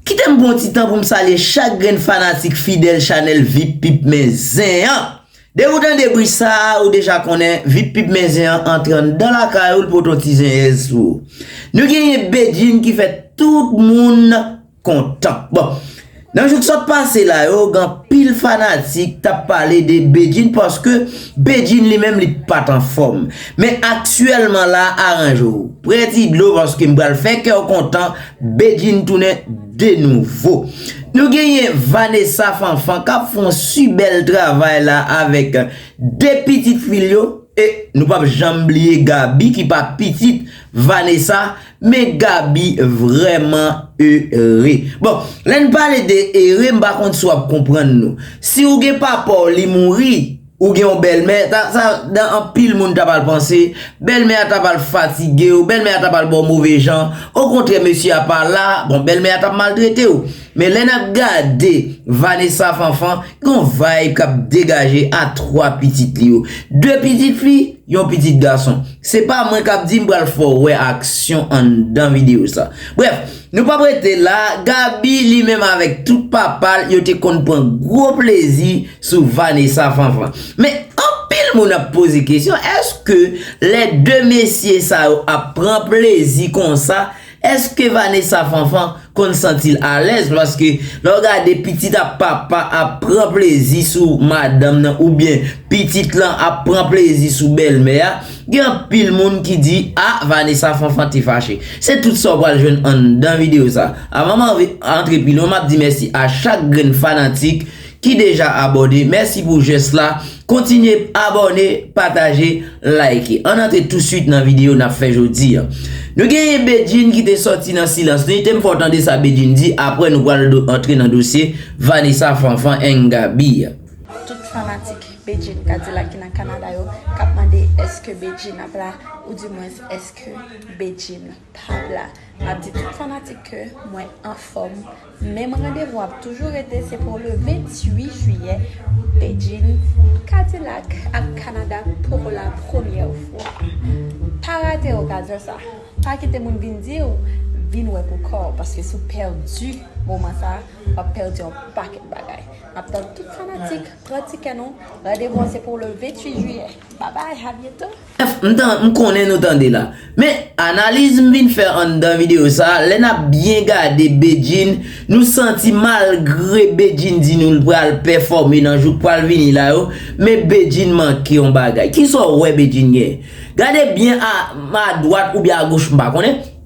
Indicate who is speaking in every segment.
Speaker 1: Kite m pran yon ti tan pou m salye chak grenn fanatik fidèl chanèl Vip Pip Men Zen an! Depi w tande bri sa a, ou deja konnen Vip Pip Men Zen an antre anndan lakay ou, l pote yon ti zenyèz sou ou. Nou genyen Bedjine ki fè tout moun kontan. Bon, nan jou k sot pase la yo, gen anpil fanatik t ap pale de Bedjine paske Bedjine li menm li pa t anfòm. Men aktyèlman la a, aranje w. Prè ti dlo paske m pral fè kè w kontan. Bedjine tounen de nouvo. Nou genyen Vanessa Fanfan kap fè yon si bèl travay la avèk 2 pitit fi l yo e nou pap janm bliye Gaby ki pa pitit Vanessa men Gaby vrèman ere. Bon, lè n pale de ere m pa konn si w ap konprann nou. Si w gen papa w li mouri. Ou gen yon bèlmè, sa dan anpil moun ta pral panse, bèlmè a ta pral fatige w, bèlmè a ta pral ba w move jan, okontrè mesye a pa la, bon bèlmè a t ap maltrete w. Men lè n ap gade Vanessa Fanfan, gen yon vayb k ap degaje a 3 pitit li yo. 2 pitit fi, yon pitit gason. Se pa mwen k ap di, m pral fè w wè aksyon anndan videyo sa. Brèf! Nou pap rete la, Gaby li menm avèk tout papal yo te konn pran gwo plezi sou Vanessa Fanfan. Men anpil moun ap poze kesyon èske lè 2 mesye sa yo ap pran plezi konsa èske Vanessa Fanfan konn santil alèz paske lè w gade pitit ap papa ap pran plezi sou madanm nan oubyen pitit lan ap pran plezi sou bèlmè a Gen anpil moun ki di ah Vanessa Fanfan te fache. Se tout sa w pral jwenn anndan video sa. Avan m antre pi lwen map di mèsi a chak grenn fanatik ki deja abòne, mèsi pou jès la, kontinye abòne, pataje, like. Ann antre touswit nan video nap fè jodi. Nou genyen Bedjine ki te sòti nan silans li, te m fè w tande sa Bedjine di aprè nou pral antre nan dosye Vanessa Fanfan and Gaby. Tout fanatik
Speaker 2: Bedjine kadilak ki nan Canada yo kap mande eske Bedjine ap la ou di mwens eske Bedjine pap la map di tout fanatik ke mwen anfom menm randevou ap toujou rete se pou le 28 jiyè Bedjine kadilak ap Canada pou la premyè fwa pa rate okazyon sa pa kite moun vin diw vin wè pou kòw paske si w pèdi moman sa wap pèdi yon pakèt bagay. Map tann tout fanatik pran tikè nou randevou an se pou le 28 jiyè babay a byento. M konnen nou tande
Speaker 1: la. Men analiz m vin fè anndan video sa, lè nap byen gade Bedjine, nou santi malgre Bedjine di nou l pral pèfòme nan jou k pral vini la yo, men Bedjine manke yon bagay. Kisa w wè Bedjine genyen? Gade byen a dwat oubyen a goch m pa konnen.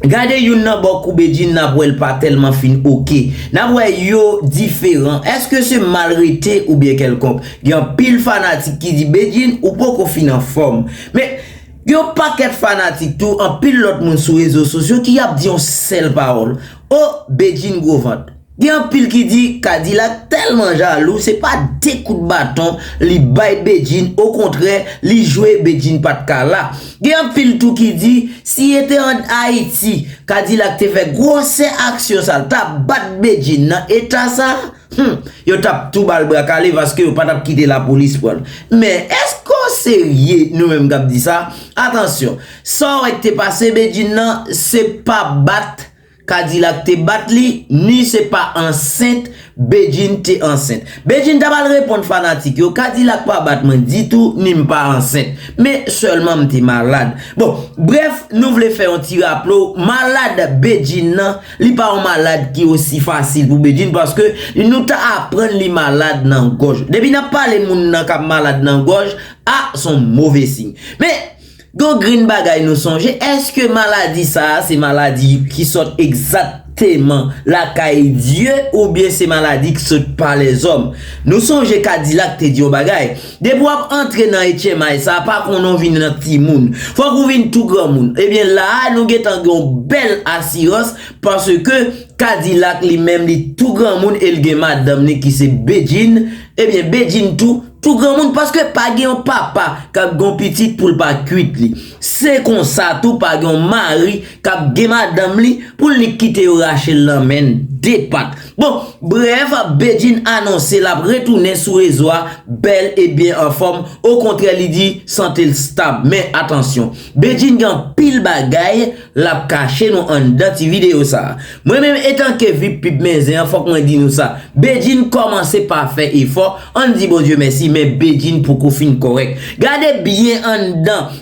Speaker 1: Gade youn nan bò kou Bedjine nap wèl pa tèlman fin ok. Nap wè yo diferan. Eske se mal rete oubyen kèlkonk. Gen anpil fanatik ki di Bedjine ou poko fin anfòm. Men Gen yon pakèt fanatik tou anpil lòt moun sou rezo sosyo ki ap di yon sèl pawòl Oh Bedjine gwo vant. Gen anpil ki di Kadilak tèlman jalou se pa de kout baton li bay Bedjine okontrè li jwe Bedjine pat ka la. Gen anpil tou ki di si e te an Ayiti Kadilak te fè gwosè aksyon sa l ta bat Bedjine nan eta sa hum yo tap tou bal bra kale paske yo patap kite lapolis pran l. Men èske w serye nou menm kap di sa? Atansyon sa w wè k te pase Bedjine nan se pa bat Kadilak te bat li ni se pa ansent Bedjine te ansent. Bedjine ta pral reponn fanatik yo Kadilak pa bat mwen ditou ni m pa ansent. Men sèlman m te malad. Bon, brèf nou vle fè yon ti raple w malad Bedjine nan li pa yon malad ki osi fasil pou Bedjine paske nou ta aprann li malad nan gòj. Depi n ap pale moun nan k ap malad nan gòj, a s on move siy. Men, Gon grenn bagay nou sonje, eske maladi sa a se maladi ki sot egzakteman lakay Dye oubyen se maladi k sot pa lèzòm? Nou sonje Kadilak te di yon bagay, depi w ap antre nan etchemay sa a, pa konnen w vin nan timoun. Fòk ou vin tou granmoun. Ebyen la a nou gentan gen yon bèl asirans paske Kadilak li menm li tou granmoun e l gen madanm li ki se Bedjine, Ebyen Bedjine tou, tou granmoun paske pa gen yon papa kap gen yon pitit poul pa kuit li. Se konsa tou pa gen yon mari kap gen madanm li poul nik kite yo rachel nan menn 2 pat. Bon, brèf, Bedjine anonse lap retounen sou rezo a bèl e byen anfòm, okontrè li di santel stab. Men atansyon, Bedjine gen anpil bagay. Lap kache nou anndan ti video sa. Mwen menm etanke vip pip men zen an fòk mwen di nou sa, Bedjine kòmanse pa fè efò, ann di Bondye mèsi men Bedjine poko fin kòrèk. Gade byen anndan,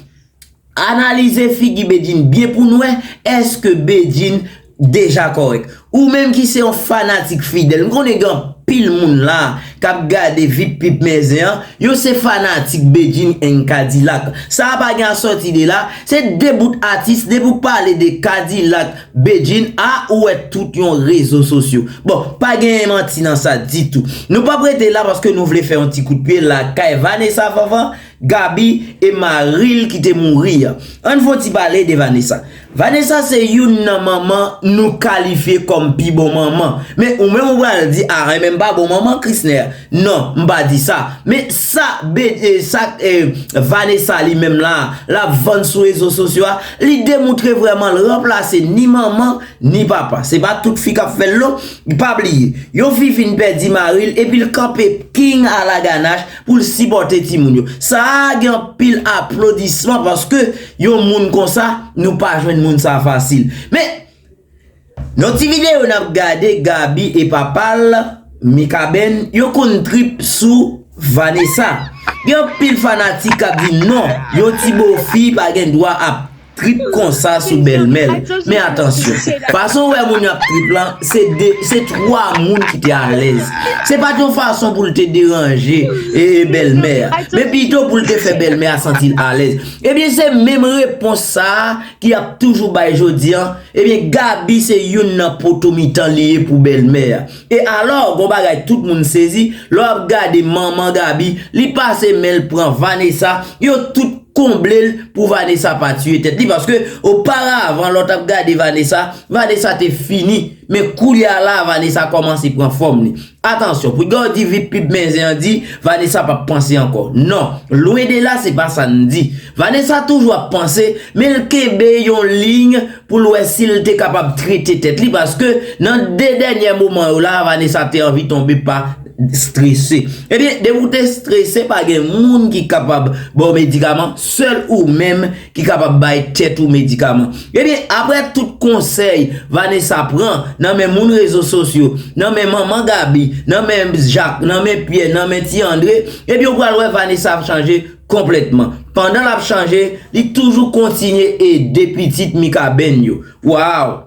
Speaker 1: analize figi Bedjine byen pou'n wè èske Bedjine deja kòrèk. Ou menm ki se yon fanatik fidèl, m konnen gen anpil moun la k ap gade Vip Pip Mèzin an, yo se fanatik Bedjine and K-dilak. Sa a pa gen a sòti de la, se 2 bout atis, depi ou pale de K-dilak, Bedjine, a ou wè tout yon rezo sosyo. Bon, pa genyen manti nan sa ditou. Nou p ap rete la paske nou vle fè yon ti kout pye lakay Vanessa Fanfan, Gaby e mari l ki te mouri an. Ann fon ti pale de Vanessa. Vanessa se youn nan manman nou kalifye kòm pi bon manman. Men ou menm ou pral di a Renmen pa bon manman Chrisner. Non, m pa di sa. Men sa sa Vanessa li menm la, l ap vann sou rezo sosyo a, li demoutre vrèman l ranplase ni manman, ni papa. Se pa tout fi k ap fè l non. Pa bliye, yon fi fin pèdi mari l epi l kanpe king a la ganache pou l sipòte timoun yo. Sa a gen anpil aplodisman paske yon moun konsa, nou pa jwenn moun sa fasil. Men, nan ti videyo n ap gade, Gaby e papa l, Mikaben, yo konn trip sou Vanessa. Gen anpil fanatik k ap di non, yon ti bofi pa gen dwa ap trip konsa sou bèlmèl men atansyon fason ou wè moun yo ap trip lan se 2 se 3 moun ki te alèz se pat yon fason poul te deranje ee bèlmè a men pito poul te fè bèlmè a santi l alèz ebyen se menm repons sa ki ap toujou bay jodi an ebyen Gaby se youn nan poto mitan li ye pou bèlmè a. E alò, gon bagay tout moun sezi, lè w ap gade manman Gaby, li pase men l pran Vanessa, yo tout konble l pou Vanessa pa tiye tèt li paske oparavan lè w t ap gade Vanessa, Vanessa te fini, men koulye a la a Vanessa kòmanse pran fòm li. Atansyon, pou gen w di Vipib men zen an di, Vanessa p ap panse ankò. Non, lwen de la se pa sa n di. Vanessa toujou ap panse, men l kenbe yon liy pou l wè si l te kapab trete tèt li paske nan 2 dènyè moman yo la Vanessa te anvi tonbe pa strese. Ebyen depi w te strese pa gen moun ki kapab ba w medikaman, sèl ou menm ki kapab bay tèt ou medikaman. Ebyen aprè tout konsèy Vanessa pran nan men moun rezo sosyo, nan men manman Gaby, nan men Jacques, nan men Pierre, nan men ti André, ebyen w pral wè Vanessa ap chanje Konplètman. Pandan l ap chanje, li toujou kontinye ede pitit Mikaben yo. Waww!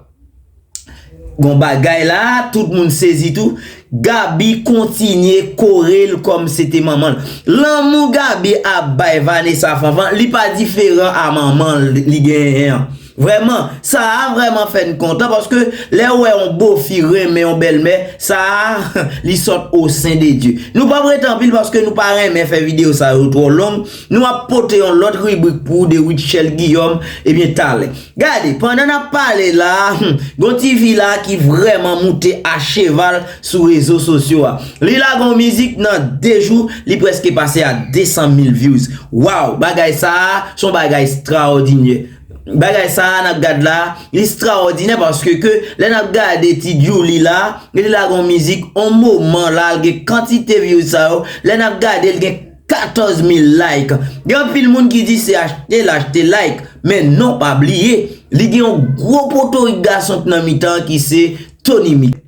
Speaker 1: Gon bagay la a, tout moun sezi tou. Gaby kontinye kore l kòm se te manman l. Lanmou Gaby ap bay Vanessa Fanfan, li pa diferan a manman li genyen an. Vrèman, sa a vrèman fè n kontan paske lè ou wè yon bofi renmen yon bèlmè, sa a li sot o sen de Dye. Nou pap rete anpil paske nou pa renmen fè videyo sa yo twò long, nou ap pote yon lòt ribrik pou ou de Rutshelle Guillaume ebyen talè. Gade, pandan n ap pale la, gon ti fi la ki vrèman moute a cheval sou rezo sosyo a. Li lage yon mizik nan 2 jou li prèske pase a 200 mil vyouz. Waw, bagay sa a son bagay straòdinyè. Bagay sa a nap gad la, li straòdinè paske ke lè nap gade ti Djoulie la, li te lage yon mizik yon moman la l gen kantite vyouz sa yo, lè nap gade l gen 14 mil like. Gen anpil moun ki di se achte l achte like, men non pa bliye li gen yon gwo potorik gason k nan mitan ki se Tony Mix.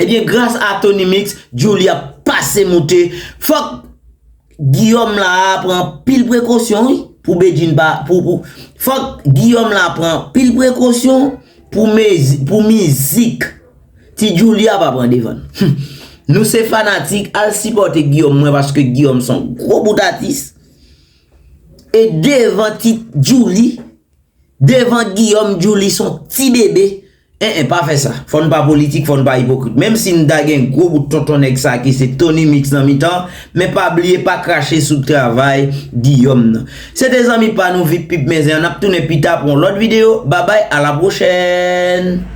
Speaker 1: Ebyen gras a Tony Mix, Djoulie ap pase moute. Fòk Guillaume la pran pil prekosyon wi pou Bedjine pa, fòk Guillaume la pran pil prekosyon pou mizik ti Djoulie a pa pran devan l. Humm nou se fanatik al sipòte Guillaume mwen paske Guillaume son gwo bout atis e devan ti Djoulie. Devan Guillaume Djouly son ti bebe eh eh pa fè sa fò n pa politik fò n pa ipokrit menm si n ta gen gwo bout tonton nèg sa ki se Tony Mix nan mitan men pa bliye pa krache sou travay Guillaume nan se te zanmi pa nou vip pip men zen an n ap tounen pita pou yon lòt videyo babay a la pwochèn.